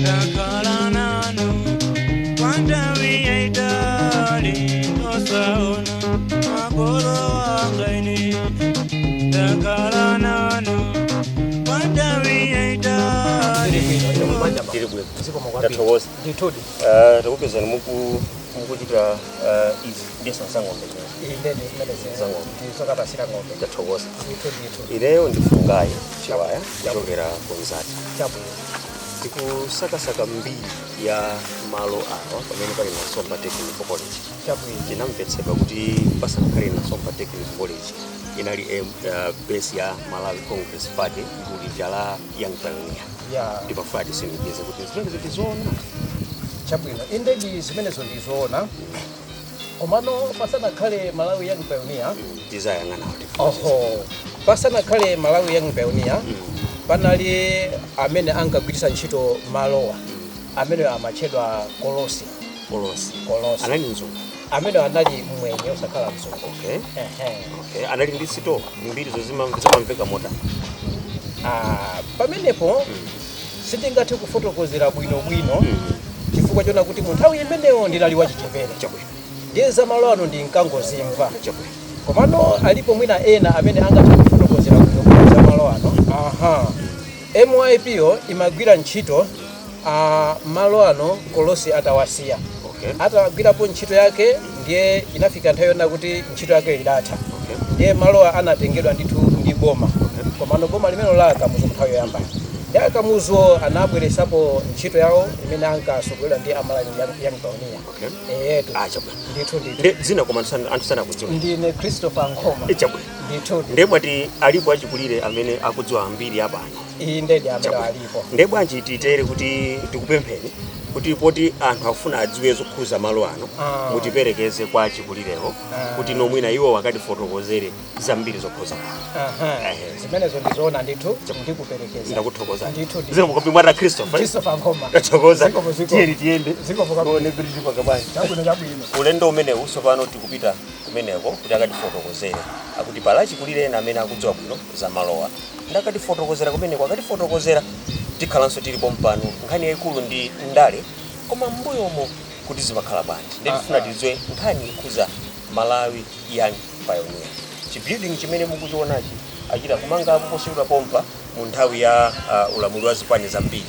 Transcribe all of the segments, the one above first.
ndakhala nanu kwantawi yaitali osaona makolo anga ine ndakhala nanu kwantawi yaitali tiri bwino ndathokoza ndithudi Ah, takupezani muku mukuchita ah, izi ndi za ng'ombe imene imene Zango. zokapatsira ng'ombe ndathokoza ndithu ndithu ineyo ndi fungayi chiwaya kuchokera ku mzati chabwino tikusakasaka mbiri ya malo awa pamene pali nasomba technical college tinamvetsedwa kuti pasanakhale nasomba technical college inali em, uh, base ya malawi congress party gulu lija la young pioneer Yeah. nde timafuna titsimikize kuti zimenezi ndi zoona chabwino indedi zimenezo ndizoona komano pasanakhale malawi young pioneer tizayang'ana kuti oho pasanakhale malawi young pioneer panali amene ankagwiritsa ntchito malowa amene amatchedwa kolosi kolosi Kolosi. anali mzungu amene anali mwenye osakhala mzungu okay Ehe. okay anali ndi sito mbiri zake imamveka motani Ah, pamenepo sindingathe kufotokozera bwinobwino chifukwa chona kuti mu nthawi imeneyo ndinali wachichepere Chabwino. ndiye za malo ano ndinkangozimva Chabwino. komano alipo mwina ena amene angathe kufotokozera bwinobwino za malo ano aha myp yo imagwira ntchito pa malo ano kolosi atawasiya Okay. atagwirapo ntchito yake ndiye inafika nthawi yona kuti ntchito yake idatha ndiye malowa anatengedwa ndithu ndi boma komano boma limene ndi la akamuzu nthawi yoyamba ndi akamuzuwo anabweresapo ntchito yawo imene ankasogolera ndi a malawi young pioneer eyetu achabwino ndithu ndithu nde dzina koma anthu sana- anthu sanakudziwa ndine christopher nkhoma chabwino ndithu nde mwati alipo achikulire amene akudziwa mbiri ya pano eee indedi amene alipo nde bwanji titere kuti tikupempheni kuti poti anthu akufuna adziwe zokhuza malo ano Ah. mutiperekeze kwa achikulirewo Ah. kuti mwina iwo akatifotokozere zambiri zokhuza malo Aha. Ehe. zimenezo ndizoona ndithu ndikuperekeza ndakuthokozani ndithu ndithu. zikomo kwambiri mwati christopher Christopher Nkhoma. tathokoza Zikomo, zikomo. tiyeni tiyende Zikomo kwambiri. Tione kuti tili pa chabanja. Chabwino, chabwino. ulendo umenewu tsopano tikupita kumeneko kuti akatifotokozere akuti pali achikulire ena amene akudziwa bwino za malowa Nde akatifotokozera kumeneko, akatifotokozera tikhalanso tili pompano. Nkhani yaikulu ndi ndale koma m'mbuyomo kuti zimakhala bwanji nde tifuna tidziwe nkhani yokhuza Malawi Young Pioneer. Chi building chimene mukuchionachi achita kumangapo posachedwa pompa mu nthawi ya ulamuliro wa zipani zambiri.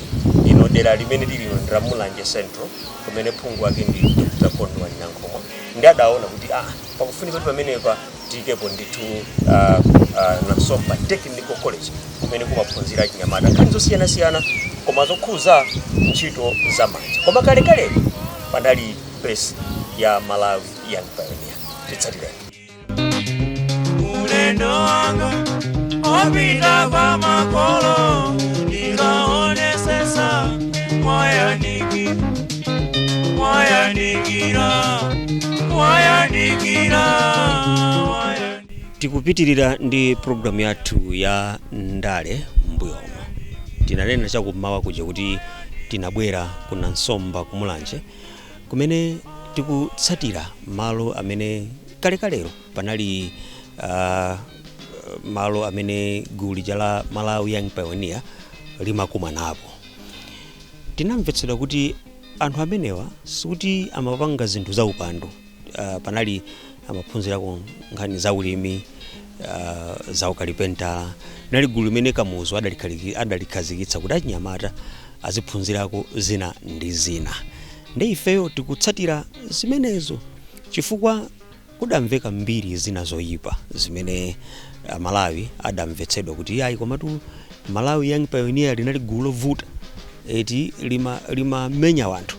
Lino dera limene tili lino ndi la Mulanje Central kumene phungu wake ndi Dr. Kondwani Nankhumwa nde adaona kuti aah pakufunika kuti pamenepa. tiyikepo ndithu uh, uh, Nasomba technical college kumene kumaphunzira achinyamata nkhani zosiyanasiyana koma zokhuza ntchito za manja koma kalekale panali base ya malawi young pioneer titsatireni ulendo wanga opita kwa makolo ndikaonesesa mwayandikira mwayandikira mwayandikira mwayandikira tikupitirira ndi programu yathu ya ndale mbuyomo tinanena chakummawa kuja kuti tinabwera ku Nasomba ku mulanje kumene tikutsatira malo amene kalekalero panali uh, malo amene gulu lija la malawi young pioneer limakumanapo Tinamvetsedwa kuti anthu amenewa sikuti amapanga zinthu zaupandu. Uh, panali amaphunzirako nkhani za ulimi uh, za ukalipentala. Nali gulu limene Kamuzu adalikhazikitsa kuti achinyamata aziphunzirako zina ndi zina, ndi ifeyo tikutsatira zimenezo chifukwa Kudamveka mbiri zina zoyipa zimene a Malawi adamvetsedwa kuti iyayi komatu Malawi Young Pioneer linali gulu lovuta eti lima limamenya wanthu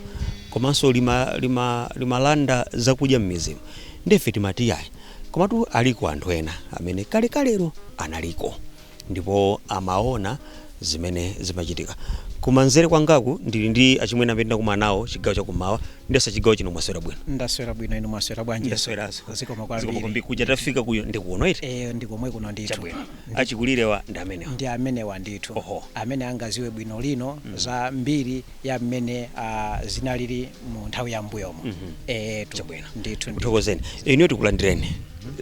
komanso lima lima limalanda zakudya mmidzimu nde ife timati iyayi komatu aliko anthu ena amene kalekalero analiko. ndipo amaona zimene zimachitika. Kumanzere kwangaku ndili ndi achimwene amene ndinakumana nawo chigawo chakummawa ndiyesa chigawo chino mwaswera bwino Ndaswera bwino inu mwaswera bwanji? ndasweraso Zikomo Zikomo kwambiri. kwambiri. kuja tafika kuja ndi kuno eti Eh, ndi komwe kuno ndithu. chabwino achikulirewa ndi amenewa ndi amenewa ndithu Oho. amene angaziwe bwinobwino za mbiri ya mmene ah, zinalili mu nthawi ya mbuyomo mm -hmm. e, tu, chabwino ndithu ndithokozeni inuyo tikulandireni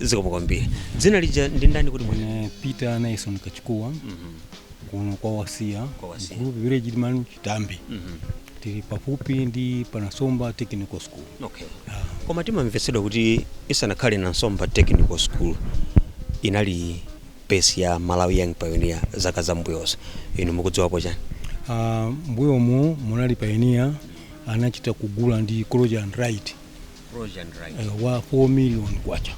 zikomo kwambiri dzina lija ndi ndani kuti mwe mm, peter naison kachikuwa mm -hmm. kuno kwa wasiya kwa wasiya group village Ndimanu chitambi mm -hmm. tili pafupi ndi panasomba technical school okay ah. koma timamvetsedwa kuti isanakhale Nasomba technical school inali base ya malawi young pioneer zaka za mbuyozo inu mukudziwapo chani uh, ah, mbuyomu munali pioneer anachita kugula ndi Crozier and Wright Crozier and Wright eh, wa 4 million kwacha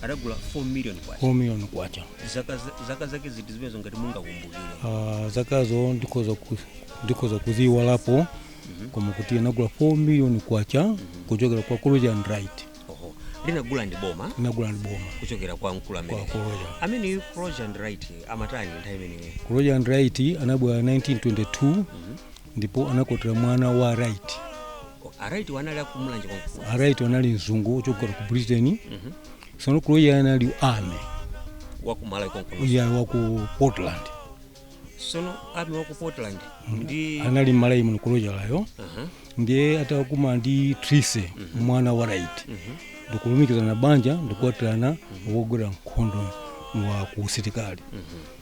adagula 4 million kwacha 4 million kwacha zaka zaka zake ziti zimenezo ngati mungakumbukire uh, zakazo ndikhoza ku- ndikhoza kuziiwalapo koma kuti anagula 4 million kwacha kuchokera kwa Crozier and Wright oho linagula ndi boma linagula ndi boma kuchokera kwa mkulu amene Kwa Crozier. amene Crozier and Wright amatani nthawi imeneyo Crozier and Wright anabwera 1922 ndipo anakwatira mwana wa wright a wright wo anali akumulanje konkuja a wright anali mzungu ochokera ku britain sono crozier anali ame wakumalawi konkuno uya wa ku portland sono ami waku portland ndiye anali mmalawi muno crozier yo Aha. ndiye atakumana ndi trise mwana wa wright ndikulumikizana banja ndikukwatirana wogwera nkhondo wa ku usilikali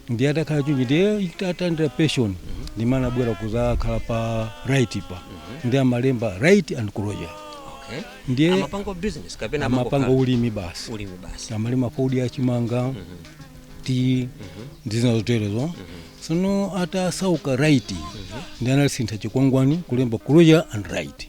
ndiye atakhala choncho ndiye atalandira pension ndimene anabwera kuzakhala pa wright pa ndiye amalemba wright and crozier okay ndiye amapanga business kapena amapanga amangokhala? ulimi basi ulimi basi amalima fodya chimanga tea ndi zina zoterezo sono atasauka wright ndiye analisintha chikwangwani kulemba crozier and wright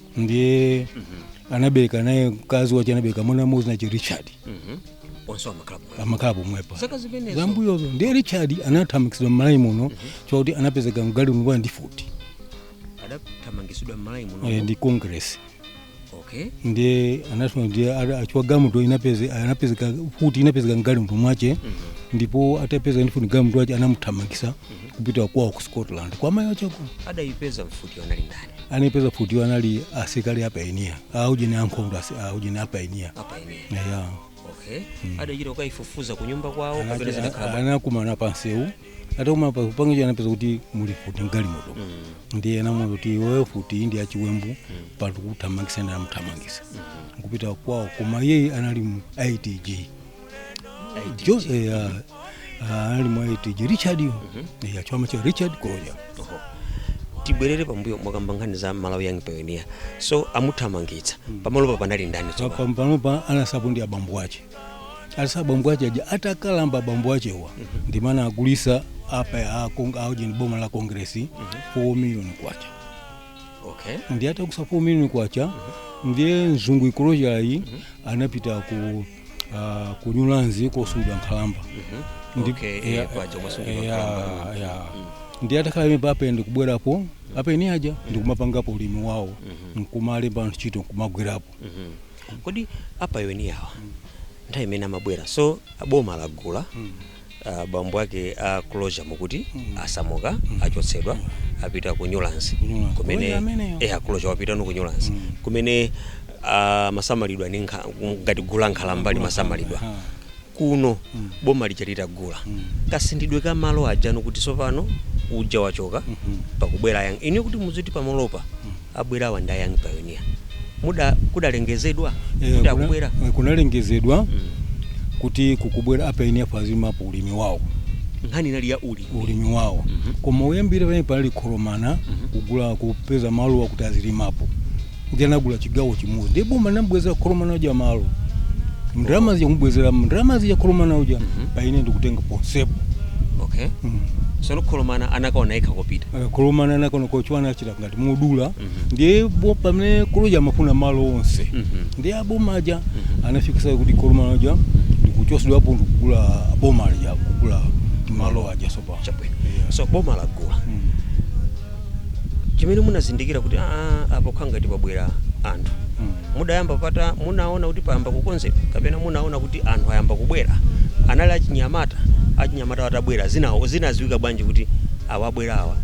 ndiye anabereka naye mkazi wace anabereka mwana mmodzi dzina lace richard onse amakhala pomwe amakhala pomwepa zaka zimenezo zambuyozo ndiye richard anathamangitsidwa mmalawi muno chakuti anapezeka mgalimoto ndi mfuti adathamangitsidwa mmalawi muno eh, ndi congress okay ndiye anasema ndiye ara- achiwa galimoto inapeze anapezeka mfuti inapezeka mgalimoto mwace ndipo atapezeka ndi mfuti mgalimoto mwace anamuthamangisa kupita kwawo ku scotland kwa mayi wace kuno adayipeza mfutiyo anali ndani anaipeza mfutiwo anali asilikali a pioneer aujeni ankhondo asi- aujeni a pioneer a pioneer eya okay adachita kukaifufuza ku nyumba kwawo kapena Anacha- zinakhala bwa- anakumana pansewu atakumana pa- pangecho anapeza kuti muli mfuti mgalimoto ndiye anamuza kuti iwe mfutiyi ndi yachiwembu apa tikuthamangisa ndiye anamuthamangisa nkupita kwawo koma iyeyi anali mu itg jo eh, ah, ah, ali mu itg richard yo Eh, achama cha richard crozier Oho. tibwerere pambuyo mwakamba nkhani za malawi young pioneer so amuthamangitsa pamalopa panali ndani Pa- tsopano? pa- panopa anatsalapo ndi abambo ache alisa abambo ache aja atakalamba abambo achewa ndimmene anagulisa apa ya Kong- aujeni boma la congress 4 million kwacha okay ndiye atagulisa 4 million kwacha ndiye mzungu crozier yu anapita ku ah, ku newlands kosungidwa nkhalamba Ndi- Okay, eh, ya- paja kumasungidwa eh, nkhalamba. ya- ya. ndiye atakhala pamenepa ndikubwerapo a pioneer aja ndikumapangapo ulimi wawo nkumalemba anthu ntchito nkumagwirapo kodi a pioneer awa nthawi imene amabwera so boma lagula Ah, bambo ake a crozier mukuti asamuka achotsedwa apita ku newlands Newlands. kumene Crozier ameneyo? eh crozier wapita no ku newlands kumene ah, amasamalidwa ndi nkha- ngati gulu la nkhalamba limasamalidwa Ha. kuno boma lija litagula kasinthidwe ka malo aja no kuti tsopano uja wachoka pakubwera young pioneer kuti mudziti pamalopa abwerawa ndi a Young Pioneer. Muda kudalengezedwa Eh, kuti kuna- akubwera. eh, kunalengezedwa kuti kukubwera apainiya azilimapo ulimi wawo Nkhani inali ya uli. ulimi wawo koma uyambire pamene panali kholomana kugula kupeza malo akuti azilimapo ndiye anagula chigawo chimodzi ndi boma linamubwezera kholomana uja malo ndalama zija kumubwezera ndalama zija kholomana uja painiya ndikutenga ponsepo Okay. Mm. Sono kholomana anakaona yekha kopita. Eh, kholomana anakaona kochiwana achita ngati modula ndiye pamene koloja amafuna malo onse ndiye aboma aja anafikisa kuti kolomana uja ndikuchosedwapo ndikugula boma lija kugula malo aja sopa chabwino so boma lagula chimene munazindikira kuti aa apo khangati pabwera anthu mudayamba pata munaona kuti payamba kukonzedwa kapena munaona kuti anthu ayamba kubwera anali achinyamata achinyamata atabwera zinawo zinaziwika bwanji kuti awabwera awa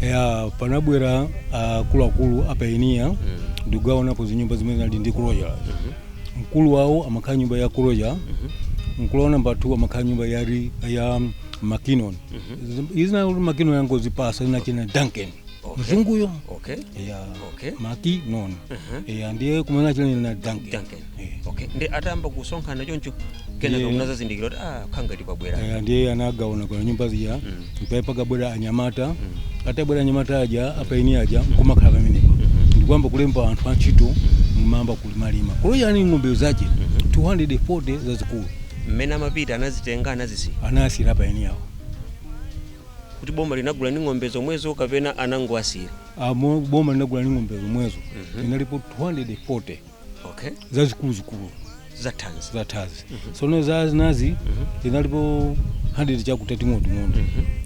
ya panabwera akuluakulu apainiya ndikugawanapo zinyumba zimene zinali ndi kuroya mkulu wawo amakhala nyumba ya kuroya mkulu wawo namba 2 amakhala nyumba ya, ri- ya makinon izina kuti makinon angozipasa inachena duncan mzunguyo okay ya okay makinon ya ndiye kumene achena na duncan Duncan. okay ndi atayamba kusonkhana choncho kenaka Yeah. munazazindikira kuti ah khangati pabwera Eh, ndiye anagawanako nyumba zija mpaye pakabwera anyamata atabwera anyamata aja apainiya aja nkumakhala pamenepo ndikuyamba kulemba anthu antchito nkumayamba kulimalima kuloya ni ng'ombe zache 240 zazikulu mmene amapita anazitenga anazisiya anasira apainiyawo kuti boma linagula ndi ng'ombe zomwezo kapena anangowasira amo boma linagula ndi ng'ombe zomwezo inalipo 240 okay zazikuluzikulu zathanzi zathanzi sono za zinazi zinalipo 100 chakuti ting'onoting'ono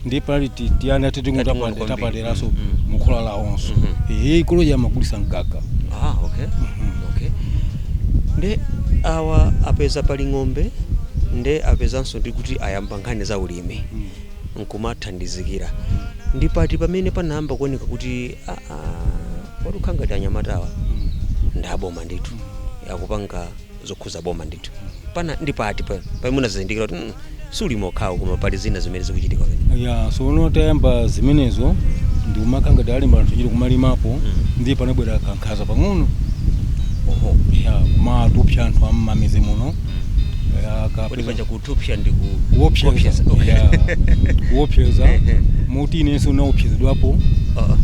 ndiye pali ti- tiana titing'ono Tating'ono kwambiri. tapaderanso Mhm. mukhola lawonso ehe koloja amagulisa mkaka ah okay okay nde awa apeza pali ng'ombe nde apezanso ndi kuti ayamba nkhani za ulimi nkumathandizikira ndi pati pamene panayamba kuoneka kuti ah, ah, Oti khangati anyamatawa ndi aboma ndithu akupanga zokhuza boma ndithu pana ndi pati pa pamene munazindikira kuti mm, si ulimi okhawo koma pali zina zimene zikuchitika pamene ya sono atayamba zimenezo ndikumakhangati alemba anthu ntchito kumalimapo ndiye panabwera kankhaza pang'ono oho ya kumatupsa anthu am'mamidzi muno Ya, kodi kapeza- panja ku Kupsa ndi ku- kuopseza kuopseza, okay. yeah. kuopseza. Ehe. moti inenso naopsezedwapo Ah, ah.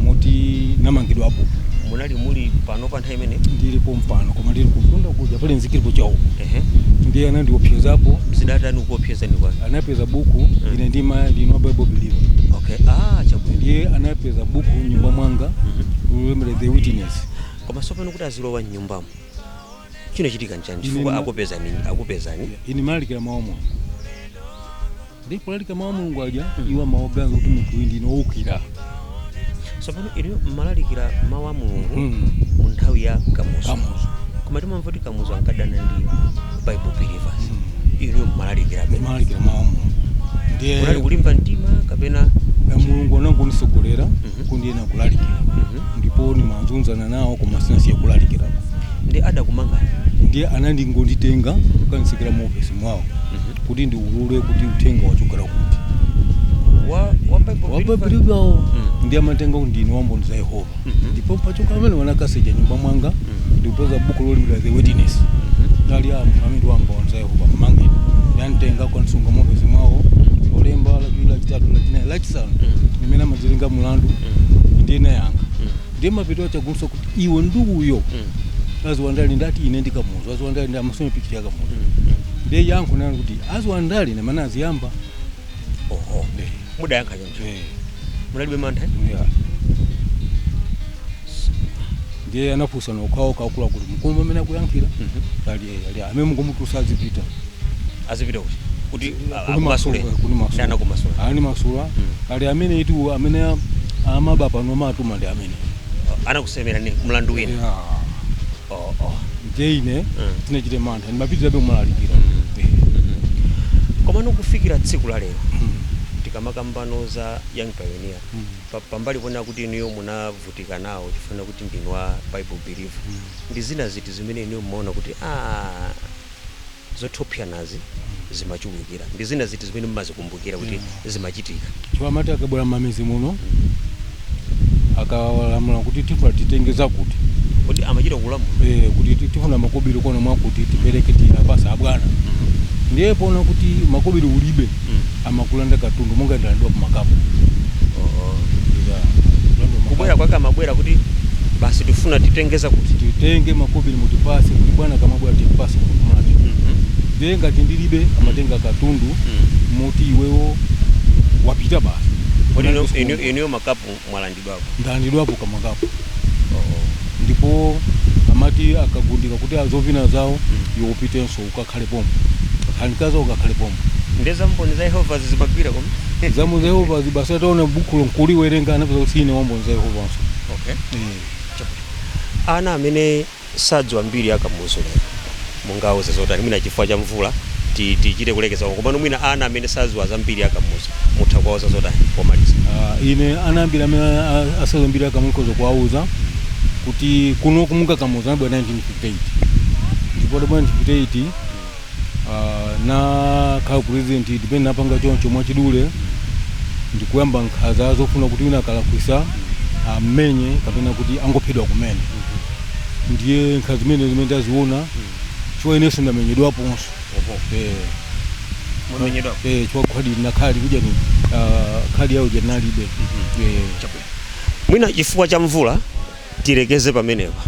moti namangidwapo munali muli pompano pa nthawi imene ndili pompano koma ndili kumtunda kuja pali nzika ilipo chawo Ehe. ndiye anandiopsezapo zidatani kuopseza ni kwa anapeza buku ine ndimati ndine bible believer okay ah chabwino ndiye anapeza buku mnyumba mwanga Mhm. lolembedwa the witness koma sopano kuti azilowa mnyumbamo chinachitika nchani chifukwa Ine- akupezani akupezani ine ndimalalikira mawu a mulungu ndi kulalikira mawu a mulungu aja iwo amaganiza kuti munthu uyu ndine woukira tsopano inu mmalalikira mawu a mulungu Mm. mu nthawi ya kamuzu Kamuzu. koma timamva kuti kamuzu ankadana ndi bible believers inu mmalalikira ndimalalikira mawu a mulungu ndiye kunali kulimba mtima kapena Ya mulungu anangonditsogolera kuti ndiyenera kulalikira ndipo ndimazunzana nawo koma sinasiye kulalikirako ndiye adakumangani ndiye anangonditenga kukanditsekera mu ofesi mwawo kuti ndiulule kuti uthenga wachokera kuti wa wa Bible Believers? wababilibwawo Mm. ndiye amatenga kuti ndine wamboni za yehova Mhm. ndipo pachoka amene anakasecha mnyumba mwanga ndikupeza buku lolembedwa the witness ali ameneyu wamboni za yehova mmangeni nanditenga kukansunga mu ofesi mwawo lolemba lachitatu lachinayi lachisanu tsiku limene amazenga mulandu ndinayankha ndiye mapeto ake afunsa kuti iwe ndi uyo adziwa ndale ndati ine ndi kamuzu adziwa ndale ndi amasomphekiti ya kamuzu ndiye yankho linali kuti adziwa ndale ndi amene anaziyamba oho Eh, mudayankha choncho eh, munalibe mantha eh? yeah. ndiye anafunsana okhaokha akuluakulu mukumva amene akuyankhira ali eh, ali ameneyu mungomutulutsa azipita azipita kuti kuti ah, Kuni akumasule masula, kunimasula. ndiye anakumasulani animasula ali ameneyutu amene a- amaba pano amatuma ndi amene Ah, anakusemera ni mlandu wina Yeah. oh, oh. ndiye ine Mm. sindinachite mantha ndimapitirabe kumalalikira Eh, komano kufikira tsiku la lero mm, tikamakamba za young pioneer mm. pa- pambali pona kuti inuyo muna navutika nawo chifukwa chakuti ndinu a bible believer ndi zina ziti zimene inuyo mumaona kuti aah zoopsezanazi zimachulukira ndi zina ziti zimene mumazikumbukira kuti zimachitika chifukwa amati akabwera mmamidzi muno akalamula kuti tifuna titenge zakuti kodi amachita kulamula eh, kuti ti- tifuna makobiri kuno mwakuti tipereke tiwapatsa abwana ndiye poona kuti makobiri ulibe amakulanda katundu monga ndinalandidwa makapu kubwera kwake amabwera kuti basi tifuna titenge zakuti titenge makobiri mutipase kuti bwana akamabwera tiwapase kukumana ndiye ngati ndilibe amatenga katundu moti iwewo wapita basi Kodi ino- ino- inuyo makapu mwalandidwapo ndalandidwapo kamwa kapo ndipo amati akagundika kuti adzavina zawo iwe upitenso ukakhale pompo ukakhale mkazi wako ukakhale pompo nde za mboni za yehova zimagwira koma za mboni za yehova basi ataona bukhulo nkuliwerenga anapeza kuti ine wa mboni za yehova'nso okay. Eh. ana amene sadziwa mbiri ya kamuzu lero mungawauze zotani mwina chifukwa cha mvula ti tichite kulekeza komano mwina ana amene sadziwa za mbiri ya kamuzu mutha kuwauza zotani pomaliza Ah, ine ana ambiri amene a- asadziwa mbiri ya kamuzu ndikhoza kuwauza kuti kuno kumuka kamuzu anabwera 1958 ndipo anabwera 1958 uh, nakhala president tipene napanga choncho mwachidule ndikuyamba nkhaza zofuna kuti wina akalakwisa ammenye kapena kuti angophedwa kumene ndiye nkhaza zimene zimene ndaziona chifukwa inenso ndamenyedwaponso Eh, mwamenyedwapo eh, chifukwa khadi nakhala nthawi ija ni ah, khadi yawo ndinalibe Eh, mwina chifukwa cha mvula tilekeze pamenepa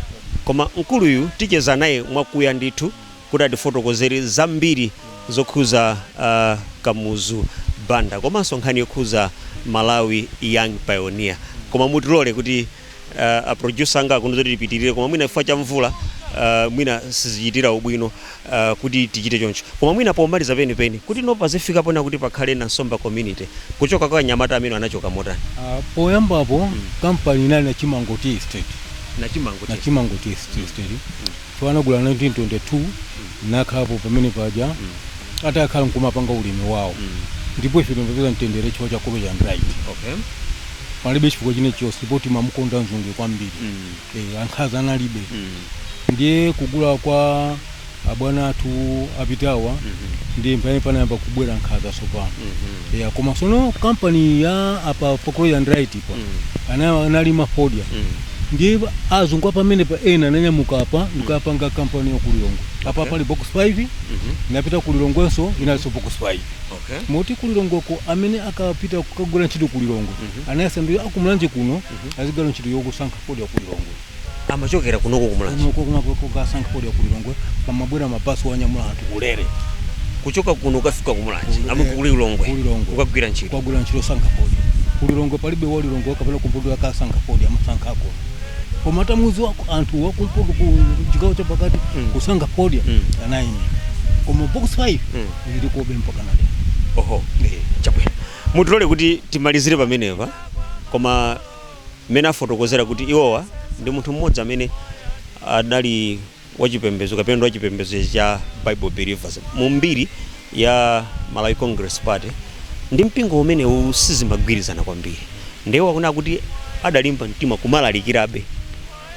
koma mkuluyu ticheza naye mwakuya ndithu kuti atifotokozere zambiri zokhuza a Kamuzu Banda komanso nkhani yokhuza Malawi Young Pioneer. Koma mutilole kuti uh, a producer anga akuno zoti tipitirire koma mwina chifukwa cha mvula uh, mwina sizichitira ubwino uh, kuti tichite choncho. Koma mwina pomaliza penipeni kuti ano pazifika pano kuti pakhale na Nsomba community kuchoka kwa anyamata amene anachoka motani Ah, poyambapo kampani inali na Chimango tea estate na Chimango na Chimango tea estate Iwo anagula 1922 nakhalapo pamene paja atakhala nkumapanga ulimi wawo ndipo ife timapeza mtendere chifukwa cha Kobe and right Okay. palibe chifukwa chine chonse ndipo timamukonda mzungu kwambiri eh, ankhaza analibe ndiye kugula kwa abwana athu apitawa ndiye pamene panayamba kubwera nkhaza tsopano ya koma sono kampani ya apa pa Kobe and right pa ana- analima fodya ndiye ba- azungu apamene pa ena ananyamuka apa n'kukapanga kampani ya ku Lilongwe apa pali box 5 napita ku Lilongwenso inalinso box 5 okay moti ku Lilongweko amene akapita kukagwira ntchito ku Lilongwe anayesa ndiye a ku Mulanje kuno azigwira ntchito yokusankha fodya ku Lilongwe amachokera kunoko ku Mulanje kunoko kunoko kukasankha fodya ku Lilongwe pamabwera mabasi kuwanyamula anthu ulere kuchoka kuno kukafika ku Mulanje Kulilongwe. amuka ku Lilongwe Kulilongwe. kukagwira ntchito kukagwira ntchito yosankha fodya ku Lilongwe palibe walilongwe kapena kumpoto akasankha fodya amasankhako koma samadziwako anthu wakumpoto ku chigawo cha pakati Mm. kusankha fodya Mm. anaini koma box 5 Mm. ili kobe mpaka na lero oho chabwino mutilole kuti timalizire pamenepa koma mmene afotokozera kuti iwowa ndi munthu mmodzi amene adali wachipembezo kapena ndi wachipembezo cha Bible Believers mu mbiri ya Malawi Congress Party ndi mpingo umenewu sizimagwirizana kwambiri ndiye akuti kuti adalimba mtima kumalalikirabe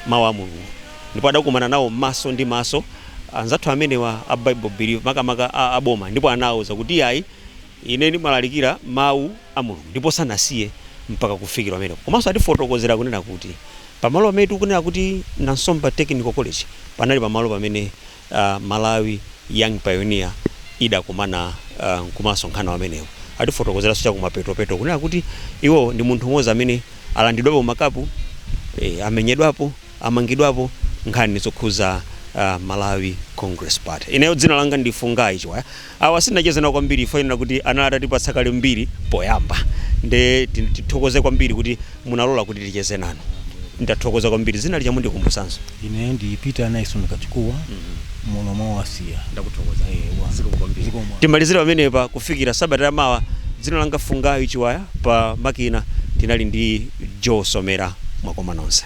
mawu a Mulungu ndipo adakumana nawo maso ndi maso anzathu amenewa a Bible Believers makamaka a, a boma ndipo anawuza kuti ayi Ine ndimalalikira Mawu a Mulungu, ndipo sanasiye mpaka kufikira pamenepo. Komanso atifotokozera, kunena kuti, pamalo pamene tikunena kuti Nansomba Technical College, panali pamalo pamene a, Malawi Young Pioneer idakumana a, nkumasonkhana pamenepo. Atifotokozeranso chakumapetopeto, kunena kuti iwo ndi munthu m'modzi amene alandidwapo makapu, e, amenyedwapo, amangidwapo, nkhani zokhudza a, Malawi Congress Party. Ineyo dzina langa ndi Fungai Chiwaya. Awa sindinacheze nawo kwambiri chifukwa chonena kuti anali atatipatsa kale mbiri poyamba nde ti- tithokoze kwambiri kuti munalola kuti ticheze nanu ndathokoza kwambiri dzina lija mundikumbutsenso ine ndi peter naison kachikuwa muno mwawasiya ndakuthokoza Eh, wa- Zikomo kwambiri. Zikomo. timalizire pamenepa kufikira sabata ya mawa dzina langa fungayi chiwaya pa makina tinali ndi joe somera mwakoma nonse